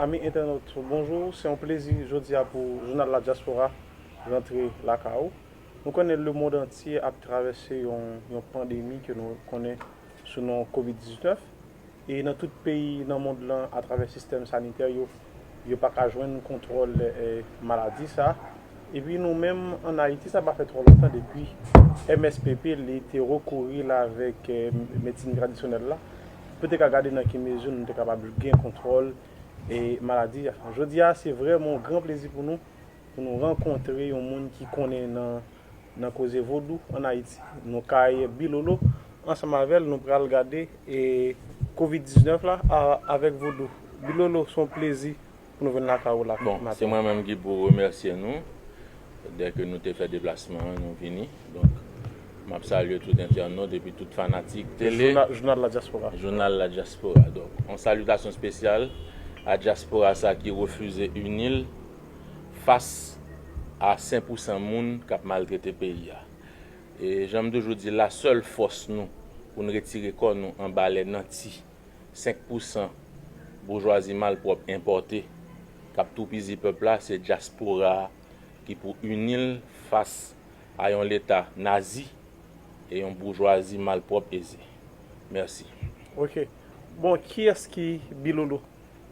Ami entènot bonjour se yon plezi jodia pou jounal la diaspora rantre lakay ou. Nou konnen le mond antye ap travèse yon yon pandemi ke nou konnen sou non covid 19 e nan tout peyi nan mond lan atravè sistèm sanitè yo yo paka jwenn kontwòl maladi sa. Epi nou menm an Ayiti sa pa fè twò lontan depi mspp li te rekouri la avèk medsin tradisyonèl la pou te ka gade nan ki mezi nou te kapab gen kontwòl maladi a. Jodi a se vrèman yon gran plezi pou nou pou nou rankontre yon moun ki konnen nan koze vodou an Ayiti. Nou kay Bilolo ansanm avè l nou pral gade covid 19 la avèk vodou. Bilolo se yon plezi pou nou vin lakay ou la maten. Bon, se mwen menm ki pou remèsye nou, dè ke nou te fè deplasman an, nou vini. Donk, m ap salye tout entènot epi tout fanatik tele. Jounal La Diaspora. Jounal La Diaspora. Donk, yon salitasyon spesyal a Diaspora sa ki refize ini l fas a sen pou san moun k ap maltrete peyi a. E jan m toujou di, la sèl fòs nou pou n retire kò nou anba lè nanti. 5 pou san boujwazi malpwòp enpòte kap toupizi pèp la se dyaspora a ki pou ini l fas a yon leta nazi e yon boujwazi malpwòp eze. Mèsi. Ok bon kiyès ki bilolo?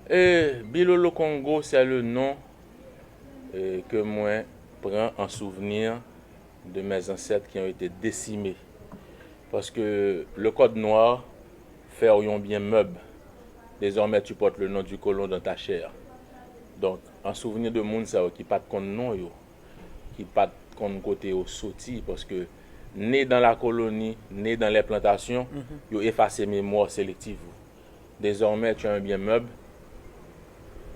Ee Bilolo Kongo sè le non ke mwen pran an souvni de mè zansèt ki yon ete desime paske le kòd nwa. fè w yon byen mèb, dezòmè tu portes le nom du colon dans ta chair. Donk, an souvni de moun sa yo ki pa t konn non yo, ki pa t konn kote yo soti, paske ne dan la koloni, ne dan lè plantasyon, yo efase memwa w selektiv ou. Dezòmè tu as un bien mèb,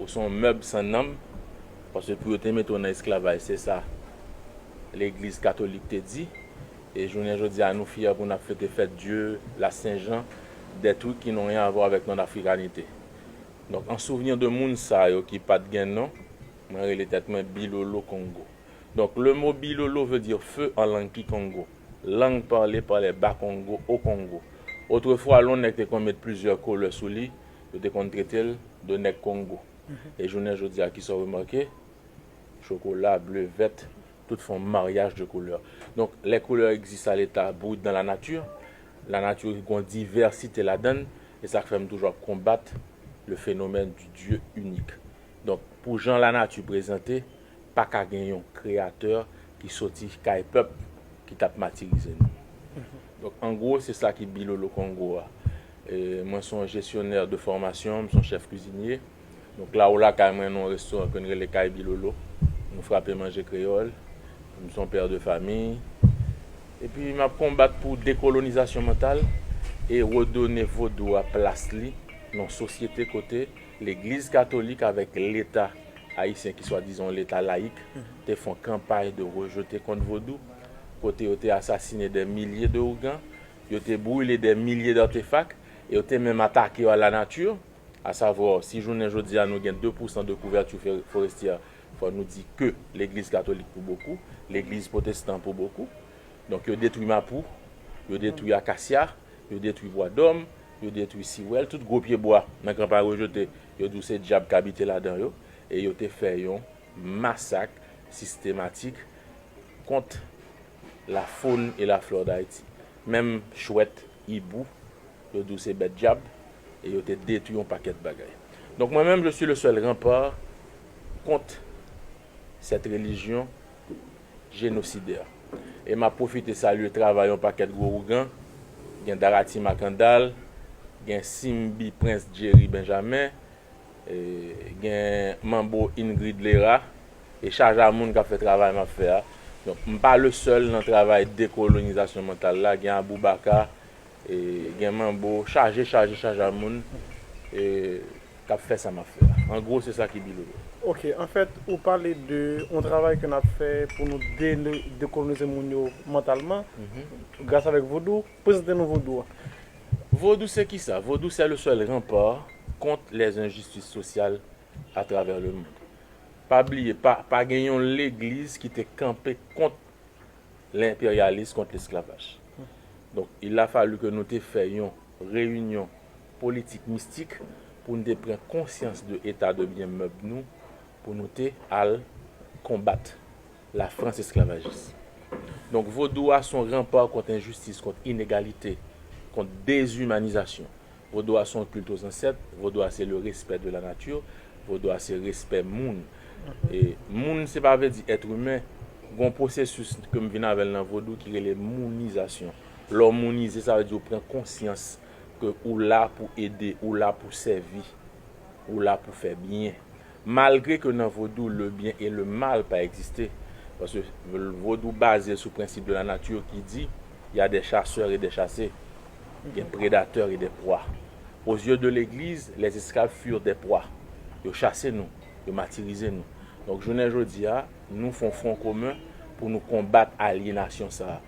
Ou se yon mèb san nanm, paske pou yo te mete w nan esklavaj, se sa legliz katolik te di, e jounen jodi a nou fyè pou n ap fete fèt dye la sen jan, dè trik ki n'on ryen avwa avèk non afrikanite. Donk an souvni de moun sa yo ki pa t gen non, mwen rele tèt mwen Bilolo Kongo. Donk le mo Bilolo vle di feu an lang kikongo, lang pale pa lè Bakongo, Okongo. Otrefwa lon nèg te konn met plizyè koulè sou li, Yo te konn trete l de nèg Kongo. E jounen jodi a, kisa w remake? Chokola, ble, vèt, tout fon maryaj de koulè. Donk, lè koulè egziste a leta bou dan la nati, la nati gon divèsite ladan l, e sa k fè m toujou ap konbat le fenomèn di Dye inik. Donk, pou jan la nati prezante, pa ka gen yon kreyatè ki soti kay pèp ki t ap matirize nou. Donk, an gwo, se sa ki Bilolo Kongo a. Mwen se yon gestionnaire de formation, m se yon chef cuisinier. Nou klawo lakay mwen nan yon restaurant ke n rele Kay Bilolo. Nou frape manje kreyòl. M se yon père de famille. Epi m ap konbat pou dekolonizasyon mantal e redone vodou a plas li nan yon sosyete kote legliz katolik avèk leta ayisyen ki swadizan yon leta layik te fè yon kanpay de rejete kont vodou kote yo te asasine dè milye de ougan Yo te brile dè milye d'artefak e yo te menm atake yo a la nati, a savo, si jounen jodi a nou gen 2 pousan de kouvèti forestyè, fò nou di ke legliz katolik pou bokou, legliz potestan pou bokou. Donk yo detwi mapou, yo detwi akasya, yo detwi bwa dòm, yo detwi siwèl, tout gwo pye bwa nan gran Paris yo jete, yo di w se dyab k abite ladan yo e yo te fè yon masak sistematik kont. La faune et la flore d'Haïti. Menm chwèt, hibou, yo di w se bèt dyab e yo te detwi yon pakèt bagay. Donk mwen menm je suis le seul rempart kont cette religion génocidaire. E m ap pwofite salye travay yon pakèt gwo ougan, gen Darati Makandal, gen Simbi Prince Jerry Benjamin, gen Manbo Ingrid Lera, E chaj a moun kap fè travay map fè a. Donk m pa le sèl nan travay dekolonizasyon mantal la, gen Aboubaka, gen Manbo, chaje chaje chaj a moun kap fè sa map fè a. An gwo se sa ki bi Lolo. Ok, anfèt ou pale de yon travay ke nap fè pou nou dekolonize moun yo mantalman gras avèk Vodou. Prezante nou Vodou a. Vodou se kisa? Vodou se le sèl ranpa kont lèzenjistis sosyal a travè le mond. Pa bliye pa pa gen yon legliz ki te kanpe kont lenperyalis kont lesklavaj. Donk il a fallu ke nou te fè yon reyinyon politik mistik pou nou te pran konsyans de eta de byen mèb nou pou nou te al konbat la frans esklavajis. Donk vodou a son ranpa kont enjistis kont inegalite kont dezumanizasyon. Vodou a se yon kilt o zansèt, vodou a se le respè de la nati, vodou a se respè moun. E moun se pa vle di èt imen, gen yon pwosesis ke m vin avè l nan vodou ki rele mounizasyon. Lè w mounize sa vle di ou pran konsyans ke ou la pou ede, ou la pou sèvi, ou la pou fè byen. Malgre ke nan Vodou le byen e le mal pa egziste, paske Vodou baze sou prensip de la nature ki di y a des chasseurs et des chassés, gen predatè e de pwa. Aux yeux de legliz, les esclaves furent des proies. Yo chase nou, yo matirize nou. Donk jounen jodi a, nou fon fwon komen pou nou konbat alyenasyon sa a.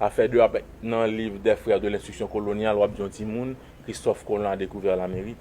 Afè de ap nan liv des frères de l'instruction coloniale w ap di yon timoun Christophe Colon a découvert l'Amérique.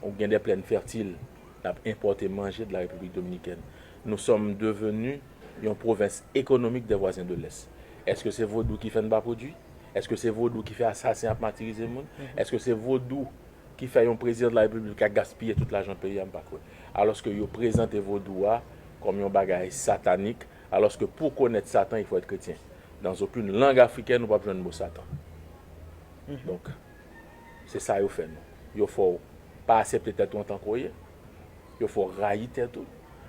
Ou gen de plèn fètil n ap enpòte manje de la Repiblik Dominikèn. Nou sòm devenu yon pwovens ekonomik dè vwazen de lès. Èske se vodou ki fè n pa pwodui? Èske se vodou ki fè asasen ap matirize moun? Èske se vodou ki fè yon prezidan de la Repiblik ka gaspiye tout lajan peyi a? M pa kwè. Alòske yo prezante vodou a kòm yon bagay satanik, alòske pou konèt satan il faut être chrétien. Dans aucune langue africaine ou p ap jwenn mo satan. Donk. Se sa yo fè nou. Yo fè w pa asepte tèt ou antan ke w ye. Yo fè w rayi tèt ou.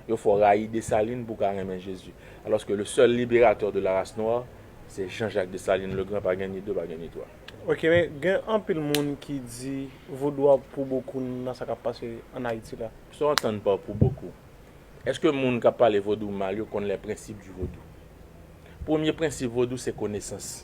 Yo fè w rayi Dessalines pou w ka renmen Jezi. Alòske le sèl liberatè de la race noire se Jean Jacques Dessalines le Grand, pa gen ni de, pa gen ni twa. Ok men gen anpil moun ki di vodou a pou bokou nan sa kap pase an Ayiti la. Sa w antann pa pou bokou? Eske moun kap pale vodou mal yo konn les principes du vodou? Premye prensip vodou se konesans.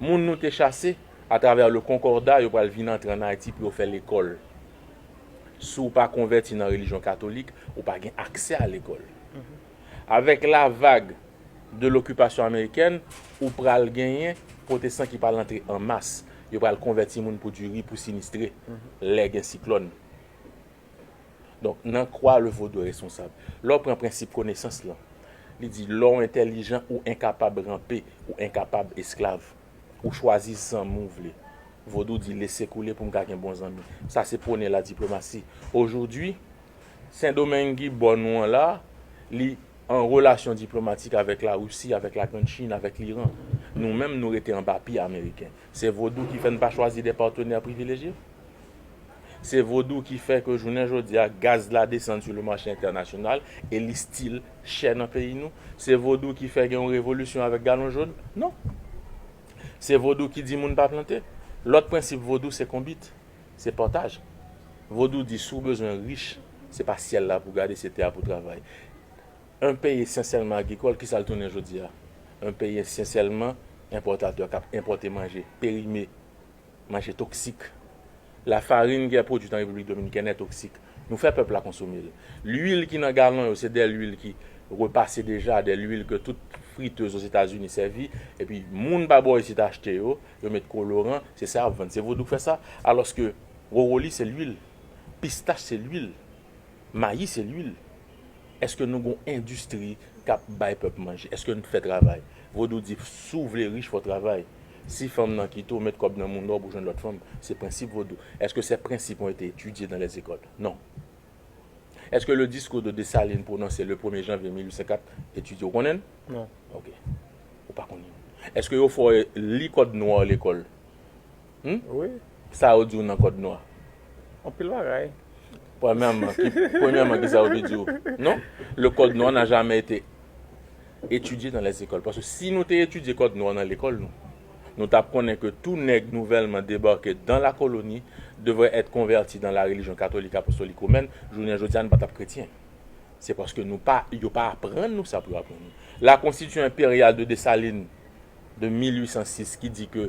Moun nou te chase a travè le konkorda yo pral vin antre an Ayiti pou yo fè lekòl. Si w pa konvèti nan relijyon katolik, ou pa gen aksè a lekòl. Avèk la vag de lokipasyon amerikèn, ou pral genyen pwotestan ki pral antre an mas. Yo pral konvèti moun pou diri, pou sinistre, lè gen siklòn. Donk, nan kwa le vodou est responsable. Lè w pran prensip konesans lan, li di lè w entèlijan ou enkapab ranpe, ou enkapab esklav. Ou chwazi zanmi w vle. Vodou di lese koule pou m ka gen bon zanmi. Sa se pwone la diplomasi. Ojodwi, Sendomeng ki bò nou an la, li an relasyon diplomatik avèk Larisi, avèk la Grand Chin, avèk Liran. Nou menm nou rete anba pye Ameriken. Se vodou ki fè n pa chwazi de patenè privilejye? Se vodou ki fè ke jounen jodi a gaz la desann sou le mache entènasyonal e li stil chè nan peyi nou? Se vodou ki fè gen yon revolisyon avèk galon jón? Non. Se vodou ki di moun pa plante? Lòt prensip vodou se konbit, se pataj. Vodou di si w bezwen rich, se pa syèl la pou w gade, se tè a pou w travay. Yon peyi esansyèlman agrikòl, kisa l tounen jodi a? Yon peyi esansyèlman enpòtatè k ap enpòte manje perime. Manje toksik. Lafarin ki pwodwit an Repiblik Dominikèn è toksik. Nou fè pèp la konsome l. Lwil ki nan galon yo se de lwil ki repase deja, de lwil ke tout fritez Ozetazini sèvi, epi moun pa bò isit achte yo, yo met koloran, se sa y ap vann. Se vodou k fè sa. Alòske wowoli se lwil. Pistach se lwil. Mayi se lwil. Eske nou gon endistri kap bay pèp manje? Eske n fè travay? Vodou di si w vle rich fò w travay. Si fanm nan kite w, met kòb nan moun lò pou jwenn lòt fanm. Se prensip vodou. Eske se prensip yon te etidye nan lèzekòl? Non. Eske le diskou de Dessalines pwononse le premye janvye 1804 etidye? Ou konnen l? Non. Ok. Ou pa konnen l. Eske yo fè w li kòd nwa w lekòl? Hum sa yo diw nan kòd nwa. Anpil bagay. Premyèman ki sa yo te diw non le kòd nwa n'a jamais été étudié dans les écoles paske si nou te etidye kòd nwa nan lekòl nou nou tap konnen ke tou nèg nouvèlman debake dans la colonie devrait être converti dans la religion catholique apostolique romaine jounen jodia nou pa tap kretyen se paske nou pa yo pa aprann nou sa pou yo aprann nou la constitution impériale de Dessalines de 1806 ki di ke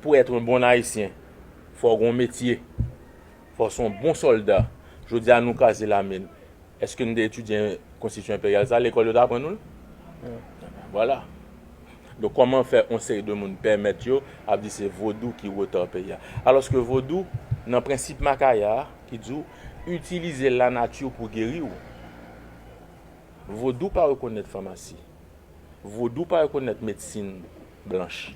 pou être un bon haïtien fò w gon metye, fò w se yon bon sòlda, jodi a nou kraze lame n, eske nou te etidye konstitisyon enperyal sa, lekòl yo te aprann nou l? Ebyen vwala. Donk kòman fè yon seri de moun pèmèt yo ap di se vodou ki wotè peyi a? Alòske vodou nan prensip Makaya a ki di w itilize lanati pou geri w, vodou pa rekonèt famasi. Vodou pa rekonèt medsin blanch.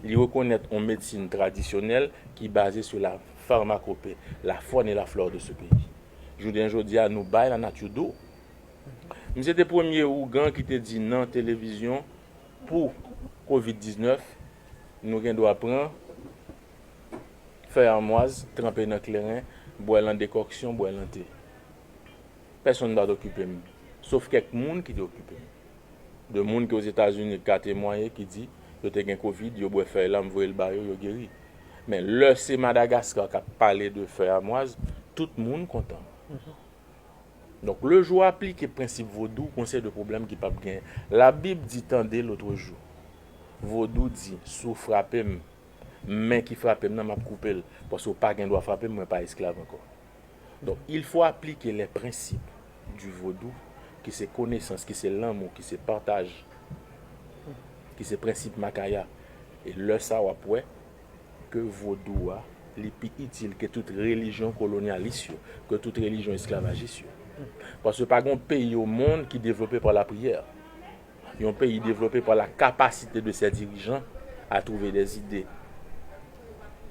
Li rekonèt on medsin tradisyonèl ki baze sou la farmakope, la fòn e la flò de se peyi. Jounen jodi a nou bay la nati do. Misye te premye ougan ki te di nan televizyon pou kovid 19 nou gen dwa pran fèy amwaz tranpe nan kleren, bwè l an dekòksyon, bwè l an te. Pèsonn pa t okipe m, sof kèk moun ki te okipe m. De moun ki Ozetazini ka temwaye ki di yo te gen kovid, yo bwè fèy la m voye l ba yo, yo geri. Men, lè se Madagaskar k ap pale de fèy amwaz, tout moun kontan. Donk, le jou w aplike prensip vodou, gon seri de pwoblèm ki p ap genyen. Labib di, tande lotrejou, vodou di, si w frape m, men ki frape m nan m ap koupe l, paske w pa gen dwa frape m, mwen pa esklav ankò. Donk, il fo aplike les principes du vodou ki se konesans, ki se lanmou, ki se pataj, ki se prensip Makaya. E lè sa w ap wè ke vodou a li pi itil ke tout relijyon kolonyalis yo, ke tout relijyon esklavajis yo. Paske pa gen yon peyi o mond ki devlope pa lapriyè. Yon peyi devlope pa la kapasite de sè dirijan a twouve de zide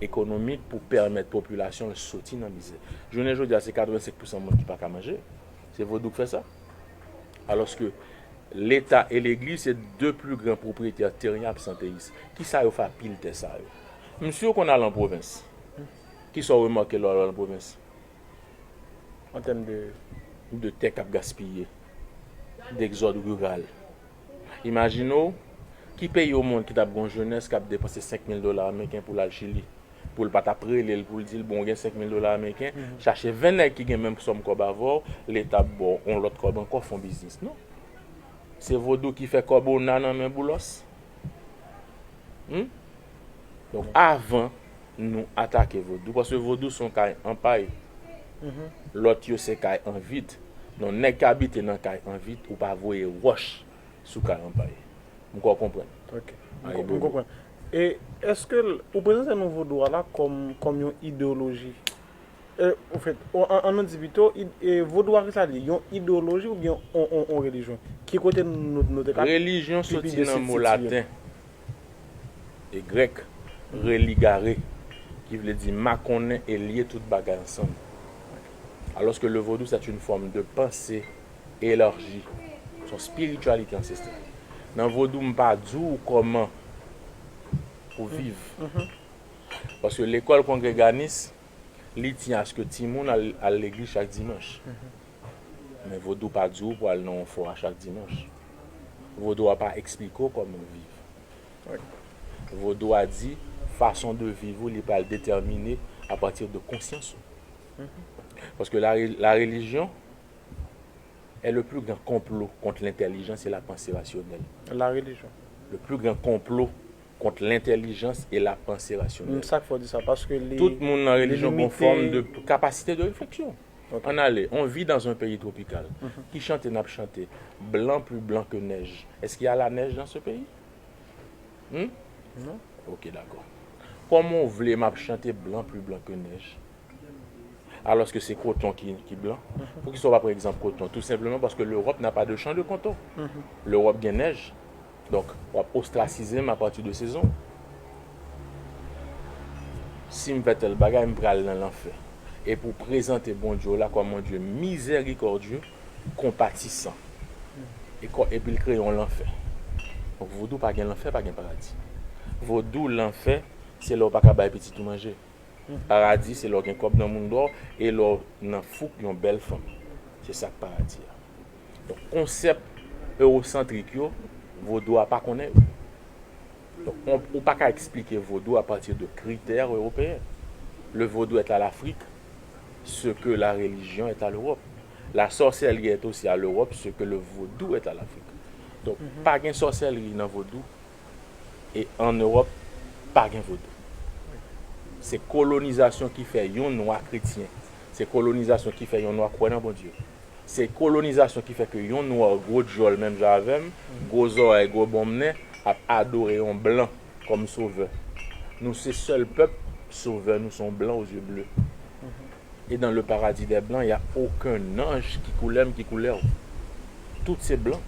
ekonomik pou pèmèt popilasyon l soti nan mizè. Jounen jodi a se 85 pousan moun ki pa ka manje. Se vodou k fè sa. Alòske leta e legliz se 2 pli gran pwopriyetè teryen absanteyis. Ki sa yo fè a pil tè sa yo? Msye w konn al an pwovens. Ki sa w remake lè w al an pwovens? an tèm de. De tè k ap gaspiye, degzòd riral. Imajine w, ki peyi omonn ki t ap gen yon jenès k ap depanse senk mil dola ameriken pou l al Chili, pou l pa t ap rele l pou l di l, bon, w gen senk mil dola ameriken, chache ven nèg ki gen menm sòm kòb avè w, Leta ap ba w yon lòt kòb ankò, fon biznis. Non! Se vodou ki fè kòb ona nan men Boulòs. Humm donk avan Nou atake vodou paske vodou son kay an pay lòt yo se kay an vid donk nèg k abite nan kay an vid ou pa voye wòch sou kay an pay m kwè w konprann Ok m konprann e eske ou prezante nou vodou a la kòm yon ideoloji. An nou di pito, vodou a ki sa li ye? Yon idewoloji oubyen yon relijyon? Ki kote nou te ka pi byen sitye l? Relijyon soti nan mo laten e grèk religare ki vle di makonnen e lye tout bagay ansanm. Alòske le vodou sèt yn fòm de panse elarji, s on spirityalite ansestrèl. Nan vodou m pa di w kòman pou viv. Paske lekòl kongreganis. Li di aske timoun al al legliz chak dimanch. Men vodou pa di w pou al nan yon fora chak dimanch. Vodou a pa eksplike w kòman viv. Vodou a di fason de viv ou li pral detèmine a pati de konsyans ou. Paske la la relijyon è le pli gran konplo kont lentèlijans e la panse rasyonèl. La relijyon. Le pli gran konplo Kont lentelijans e la panse rasyonèl. M sa k fè w di sa? Paske li. Tout moun nan relijyon gon fòm de kapasite de refleksyon. An ale, on vit dans un pays tropical. Ki chante n ap chante? Blan plus blan que neige. Est ce qu'il y a la neige dans ce pays? Hum? Non. Ok dakò. Kòman w vle m ap chante blan plus blan que neige? Alòske se koton ki blan. Poukisa w pa pran egzanp koton? Tou senpleman paske Lewòp na pa de chan de konton. Lewòp gen nèj. Donk, w ap ostrasize m apati de sezon w. Si m fè tèl bagay, m pral nan lanfè. E pou w prezante Bondye w la kòm yon Dye mizèrikòdye, konpatisan. Epi l kreye yon lanfè. Donk, vodou pa gen lanfè, pa gen paradi. Vodou, lanfè, se lè w pa ka bay pitit ou manje. Paradi se lè w gen kòb nan mounn dò e lè w nan fouk yon bèl fanm. Se sa k paradi a. Donk konsèp ewosantrik yo, vodou a pa konnen yo. Donk on ou pa ka eksplike vodou a pati de kritè ewopeyen. Le vodou est à l'Afrique ce que la religion est à l'Europe. La sorcellerie est aussi à l'Europe ce que le vodou est à l'Afrique. Donk pa gen sòsèlri nan vodou. e an Ewòp pa gen vodou. Se kolonizasyon ki fè yon nwa kretyen, se kolonizasyon ki fè yon nwa kwè nan Bondye, se kolonizasyon ki fè ke yon nwa gwo dyòl menm jan avèm, gwo zòrèy, gwo bonm nen ap adore yon blan kòm sovè. Nou se sèl pèp sovè nou se yon blan o zye ble. E dans le paradis des blancs ya oken anj ki koulèm ki koulèw. Tout se blan.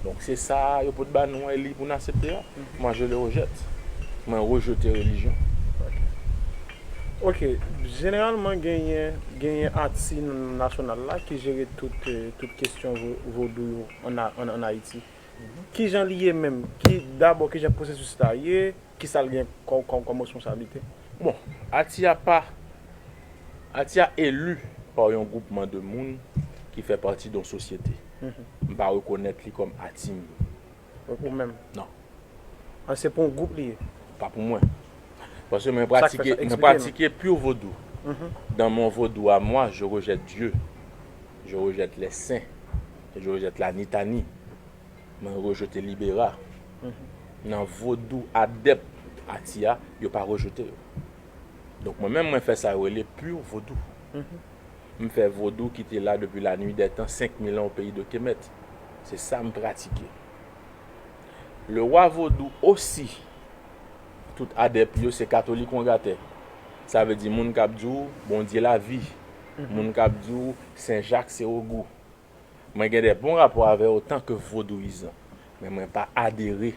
Donk se sa yo pot ba nou an e li pou n asepte a. Moi je le rejette. Mwen rejete relijyon. Ok, jeneralman genyen genyen ati nasyonal la ki jere tout tout kesyon vodou yo an Ayiti. Kijan li ye menm? Ki dabò kijan pwosesis la ye? Kisa l gen kòm responsablite? Bon, ati a pa, ati a eli pa yon gwoupman de moun ki fè pati don sosyete. M pa rekonèt li kòm ati m. Ou menm? Non. An se pou yon gwoup li ye? Pa pou mwen. Paske mwen pratike, mwen pratike pur vodou. Dans mon vodou à moi, je rejette Dieu, je rejette les saints, je rejette la nitani. Mwen rejete libera nan vodou adep ati a yo pa rejete yo donk mwen menm mwen fè sa yo rele pur vodou m fè vodou ki te la depi lanui dè tan 5000 an o peyi de kemèt se sa m pratike le wa vodou osi tout adep yo se katolik on ga tè sa vle di moun kap di w bondye lavi moun kap di w sen jak se ogou. Mwen gen de bon rapò avè otanke vodouyizan, men mwen pa adere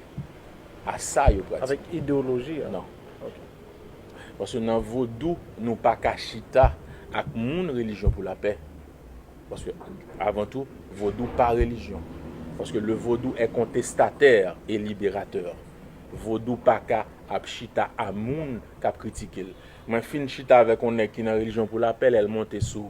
a sa yo pratike. Avèk idewoloji a? Non. Ok. Paske nan vodou, nou pa ka chita ak moun relijyon pou lapè. Paske, avan tou, vodou pa relijyon. Paske le vodou è kontestatè e liberatè. Vodou pa ka ap chita a moun k ap kritike l. Mwen fin chita avèk yon nèg ki nan relijyon pou lapè lè l monte sou.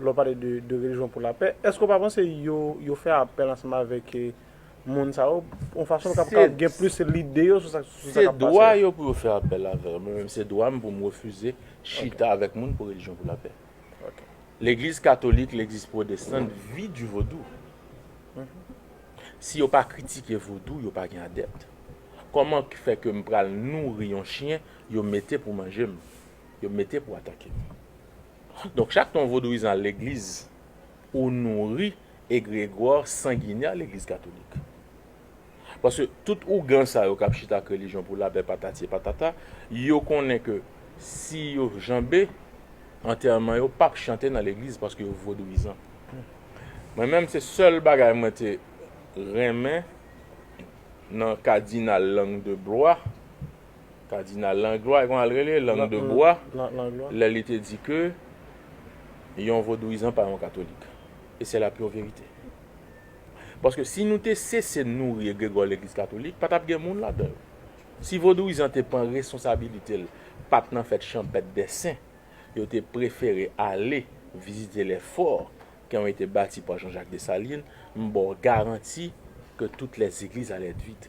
Lè w pale de relijyon pou lapè, èske w pa panse yo fè apèl ansanm avèk moun sa yo yon fason pou kapab gen plis lide yo sou sa k ap pase la? Se dwa yo pou yo fè apèl avè yo. Mwen menm se dwa m pou m refize chita avèk moun pou relijyon pou lapè. Legliz katolik, legliz pwodestan vi di vodou. Si yo pa kritike vodou, yo pa gen adèpt. Kòman k fè ke m pral nouri yon chyen yo mete pou manje m, yo mete pou atake m? Donk chak ton vodouyizan al legliz ou nouri egregwa sanginè legliz katolik. Paske tout ougan sa yo kap chita ak relijyon pou lapè patati e patata, yo konnen ke si yo janbe, antèman yo pap chante nan legliz paske yo vodouyizan. Mwen menm se sèl bagay mwen te renmen nan kadinal Langue de Blois, Kadinal Langlois, kòman l rele? Langdebois, lè li te di ke yon vodouyizan pa yon katolik. E sè la pure vérité. Paske si nou te sese nouri egregò legliz katolik, pa t ap gen moun ladan yo. Si vodouyizan te pran responsabilite l, pa t nan fèt chanpèt dè sen, yo te prefere ale vizite lè fò ki on ete bati pa Jean-Jacques Dessalines, m ba w garanti ke tout lè zegliz alè èt vid.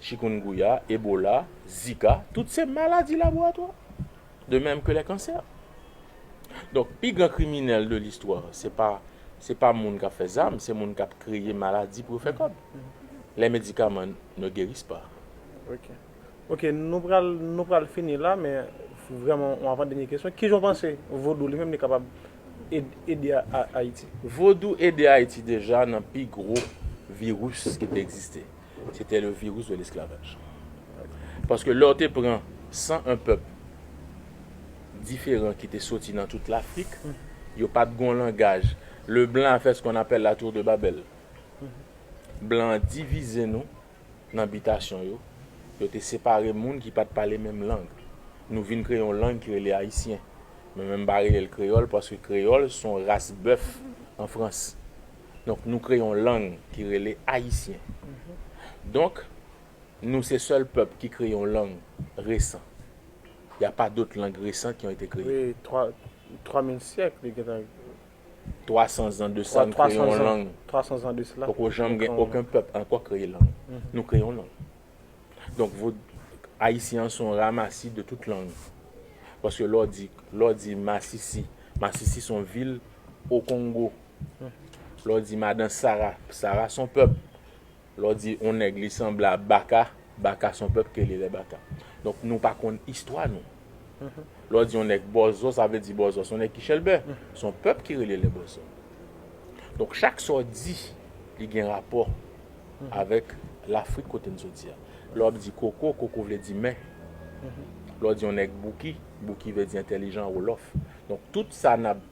Chikungunya, Ebola, Zika, tout se maladi laboratwa, de mèm ke lè kansè. Donk, pi gran kriminèl de listwa, se pa, se pa moun k'ap fè zam, se moun k'ap kreye maladi pou yo fè kòb. Lè medikaman ne guerissent pas. Ok. Ok, nou pral, nou pral fini la, men vrèman yon avan dènye kesyon, kijan ou panse Vodou li menm li kapab ede Ayiti? Vodou ede Ayiti deja nan pi gwo viris ki te egziste. Se te le virus de l'esclavage. Paske lè w te pran 101 pèp diferan ki te soti nan tout Lafrik, yo pa t gen yon langaj. Le blan a fè se kon apèl la tour de Babel. Blan an divize nou nan bitasyon yo. Yo te separe moun ki pa t pale menm lang. Nou vin kreye yon lang ki rele Ayisyen. Mwen menm m pa rele l kreyòl paske kreyòl se yon ras bèf an Frans. Donk nou kreye yon lang ki rele ayisyen. Donk nou se sèl pèp ki kreye yon lang resan. Y a pa dot lang resan ki yon ete kreye. Wi, twa, twa mil syèk li gen tan. Twa san zan de sa nou kreye yon lang. Twa san zan de sela. Poko janm gen oken pèp ankò kreye lang. Nou kreye yon lang. Donk vo, ayisyen an se yon ramasi de tout lang. Paske lè w di, lè w di masisi, masisi se yon vil Okongo. Lè w di madan Sara, Sara s on pèp. Lè w di on nèg li sanble a Baka, Baka s on pèp ke li rele Baka. Donk nou pa konn istwa nou. Lè w di on nèg Bòzò, sa vle di Bòzò s on nèg ki chèlbè. S on pèp ki rele lè Bòzò. Donk chak sa w di, li gen rapò avèk Lafrik kote n soti a. Lè w ap di koko, koko vle di men. Lè w di on nèg Bouki, Bouki vle di entèlijan, Wolòf. Donk tout sa n ap.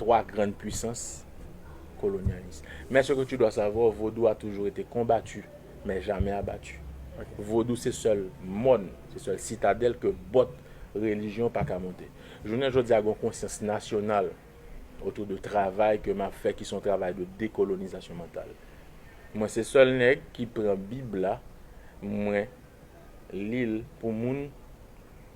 3 grann pwisans kolonyalis. Men se ke tu dwa savwa, vodou a toujou ete konbatu, men jamè abatu. Vodou se sèl mòn, se sèl sitadèl ke bòt relijyon pa ka monte. Jounen jodi a gon konsyans nasyonal otou de travay ke map fè ki son travay de dekolonizasyon mantal. Mwen se sèl nèg ki pran bib la mwen lil pou moun.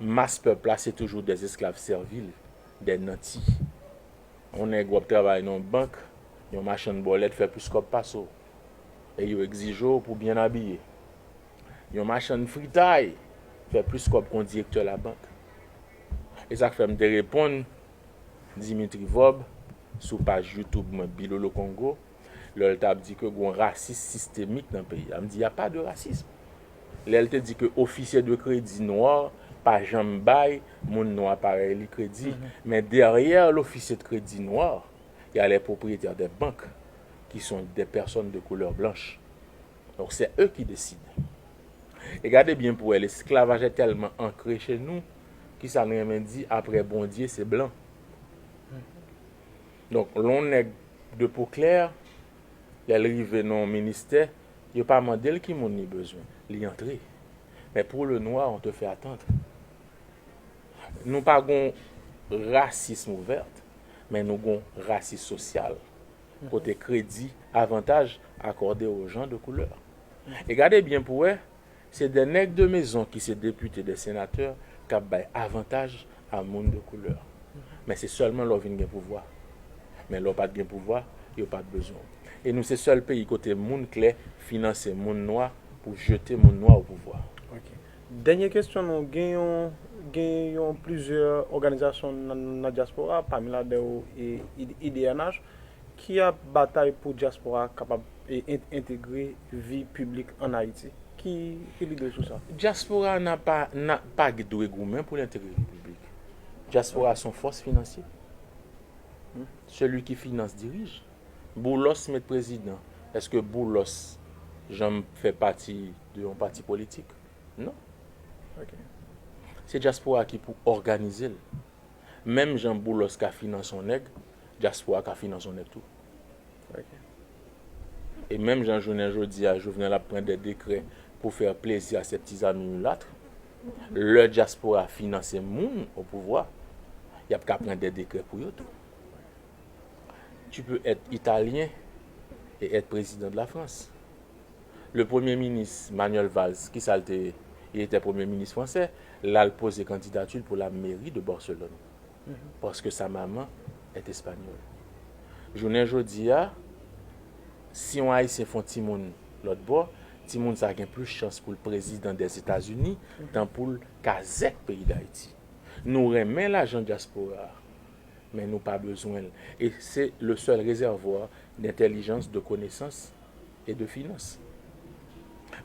Mas pèp la se toujou dè esklav sèvil, dè nanti. Yon nèg w ap travay nan yon bank, yon machann bòlèt fè plis kòb pase w e yo egzije w pou byen abiye. Yon machann fritay fè plis kòb ke yon direktè labank. E sa k fè m te reponn Dimitri Vorbe sou paj YouTube mwen Bilolo Congo. lè l t ap di ke gon rasis sistemik nan peyi a. M di y a pas de racisme. Lè l te di ke ofisye de kredi nwa pa janm bay moun nwa parèy li kredi. Men dèryè lofisye de kredi nwa, y a les propriétaires des banques ki son des personnes de couleur blanche. Donk sè eu ki deside. E gade byen pou wè lesklavajè tèlman ankre che nou, ki sa n renmen di aprè Bondye se blan. Donk lè yon nèg de po klè, lè l rive nan yon ministè, yo pa mande l ki moun li bezwen, li antre. Men pou le nwa, on te fè atandr. Nou pa gen yon rasism ouvèrt, men nou gen yon rasism sosyal, kote kredi, avantaj akòde o jan de koulè. E gade byen pou wè, Se de nèg de mezon ki se depite de senatè kap bay avantaj a moun de koulè. Men se sèlman lè w vin gen pouvwa. Men lè w pat gen pouvwa, yo pat bezwen w. E nou se sèl peyi kote moun klè finanse moun nwa pou jete moun nwa o pouvwa. Ok. Dènye kesyon nou gen yon gen yon plizyè òganizasyon nan dyaspora pami ladan yo idnh Ki ap batay pou dyaspora a kapab entegre vi piblik ann Ayiti. Ki lide w sou sa? Dyaspora a nan pa nan pa dwe goumen pou l entegre vi piblik. Dyaspora a se yon fòs finansye. Seli ki finans dirije. Boulos met prezidan. Eske Boulos janm fè pati de yon pati politik? Non. Se dyaspora a ki pou òganize l. Menm jan Boulos ka finans yon nèg, dyaspora ka finans yon nèg tou. Ok. E menm jan jounen jodi a Jovenel ap pran dè dekrè pou fè plezi a sè ti zami milattr, lè dyaspora finanse moun o pouvwa, y ap ka pran dè dekrè pou yo tou. Tu peux être italien et être président de la France. Le premye minis Manuel Valls ki sa l te ye? Il était premye minis fransè, la l poze kandidati l pou la meri de Barselòn. Paske sa maman est espagnole. Jounen jodi a, si yon Ayisyen fon timoun lòt bò, timoun sa gen plis chans pou l prezidan dè Etazini tan pou l kazèk peyi Dayiti. Nou renmen lajan dyaspora a, men nou pa bezwen l. E se le sèl rezèvwa dentèlijans, de konesans. et de finance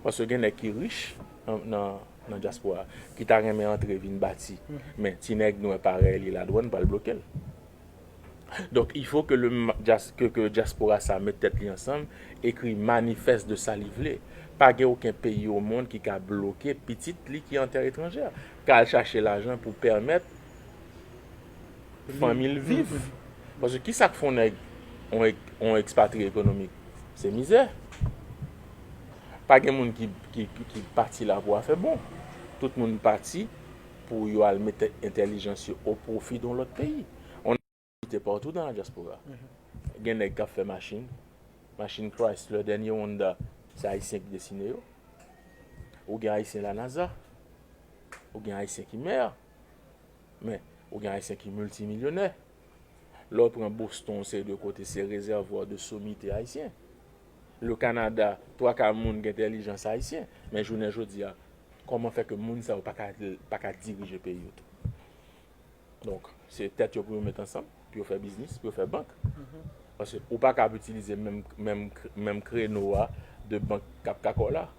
paske gen nèg ki rich nan dyaspora ki ta renmen antre vin bati men ti nèg nwè parèy li ladwann pral blokel donk il faut ke dyaspora sa met tèt li ansanm ekri manifès de sa li vle pa gen oken peyi o mond ki ka bloke pitit li ki an tè etranjè ka al chache lajan pou pèmèt fanmi l viv. Paske ki sa k fè yon nèg yon ekspatriye ekonomik? Se mizè. Pa gen moun ki pati la pou afè bon. Tout moun pati pou yo al mete entèlijans yo o pwofi yon lòt peyi. On a opòtinite patou dan la dyaspora. Gen nèg k ap fè machin. Machin Chrysler, dènye Honda, se Ayisyen ki desine yo. Ou gen Ayisyen lanaza. Ou gen Ayisyen ki mè. Men, ou gen Ayisyen ki miltimilyonè. Lè w pran Boston, yon seri de kote, se rezèvwa de somite Ayisyen. Le Kanada, twa ka moun gen entèlijans Ayisyen. Men jounen jodi a, kòman fè ke moun sa yo pa ka dirije peyi yo tou? Donk, se tèt yo pou yo met ansanm, pou yo fè biznis, pou yo fè bank. Paske ou pa ka ap itilize menm kreno a de bank k ap kakò la.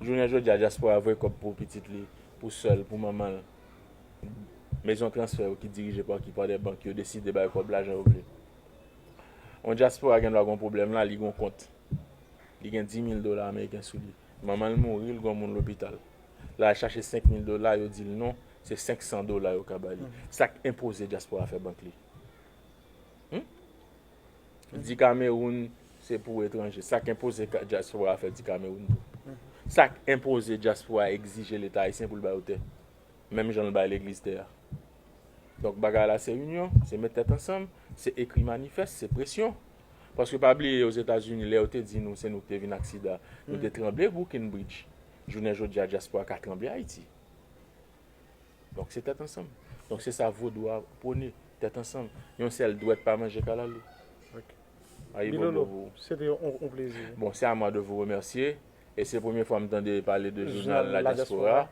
Jounen jodi a, dyaspora voye kòb pou pitit li, pou sè l, pou manman l. mezon transfè yo ki dirije pa ki pa dè bank yo deside bay kòb la jan yo vle. Yon dyaspora gen dwa gen yon pwoblèm la, li gen yon kont. Li gen 10.000 dola ameriken sou li. Manman l mouri, l gen yon moun lopital. L al chache 5.000 dola, yo di l non, se 500 dola yo ka ba li. Sa k enpoze dyaspora fè bank li? di Kameroun se pou etranje. Sa k enpoze dyaspora a fè di Kameroun tou. Sa k enpoze dyaspora a egzije Leta ayisyen pou l ba yo tè. Menm jan l bay legliz tè a. Donk bagay la se inyon, se met tèt ansanm, se ekri manifès, se presyon. Paske pa bliye Ozetazini lè yo te di nou se nou ki te vin ak sida, nou te tranble Brooklyn Bridge. Jounen jodi a dyaspora ka tranble Ayiti. Donk se tèt ansanm. Donk se sa vodou a pwone. Tèt ansanm. Yon sèl dwèt pa manje kalalou. Ok. Ayibobo pou ou. Se te yon plezi. Bon, se a mwa de vou remèsye. E se premye fwa m tande pale de jounal La Diaspora.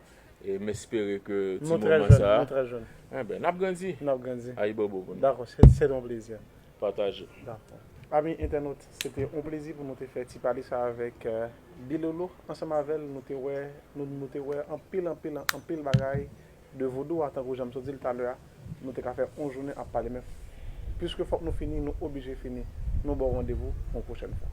E m espere ke ti moman sa. Nou trè jèn. Nou trè jèn. Enben, n ap grandi. N ap grandi. Ayibobo pou nou. Dakò. Se te yon plezi. pataje. Dakò. Ami entènot, se te yon plezi pou nou te fè ti pale sa avèk Bilolo. Ansanm avè l, nou te wè, nou, nou te wè anpil, anpil, an, anpil bagay de Vodou a. Tankou jan m sot di l talè a, nou te ka fè yon jounen ap pale. Men, piske fòk nou fini, nou oblije fini. Nou ba w randevou pou yon pwochèn fwa.